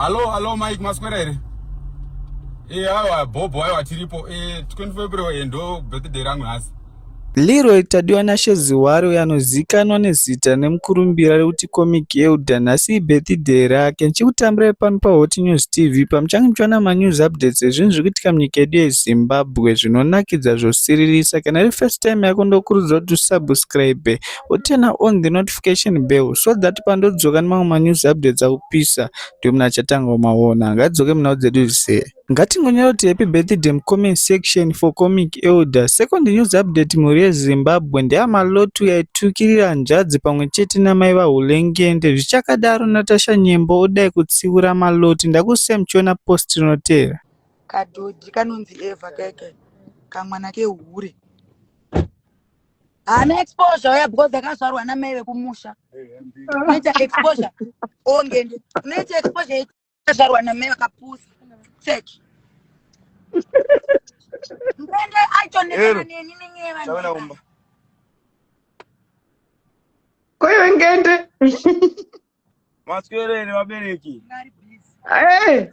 Hallo, hallo Mike maswera here? Eh, awa Bobo awa tiripo. Eh, 25 February eh, ndo birthday rangu nhasi. Leroy Tadiwa Nashe Ziwari uyo anozivikanwa nezita nemukurumbira rekuti Comic Elder nhasi ibirthday rake. Ndichikutambirai pano paHot News TV pamuchange muchiwana manews updates ezvinhu zviri kuitika munyika yedu yeZimbabwe zvinonakidza zvosiririsa. Kana iri first time yako ndokurudzira kuti usubscribe wo turn on the notification bell so that pandodzoka nemamwe ma news updates akupisa ndiwe munhu achatanga kumaona ngadzoke munhau dzedu zvise ngatingonyorawo kuti happy birthday mucomment section for comic elder second news update mhuri yezimbabwe ndeyamalotu yaitukirira hanzvadzi pamwe chete namai vahulengende zvichakadaro natasha nyembo odai kutsiura maloti ndakusiya muchiona post rinotevera kadhodhi kanonzi eva keke kamwana kehure haana exposure uya because akazvarwa namai vekumusha unoita exposure ongende unoita exposure yekuzvarwa namai vakapusa church mbende aitonekana Ero. neni nenyeva Tavana neni. umba. koiwe ngende Maswero ere vabereki? Ngari please. Eh,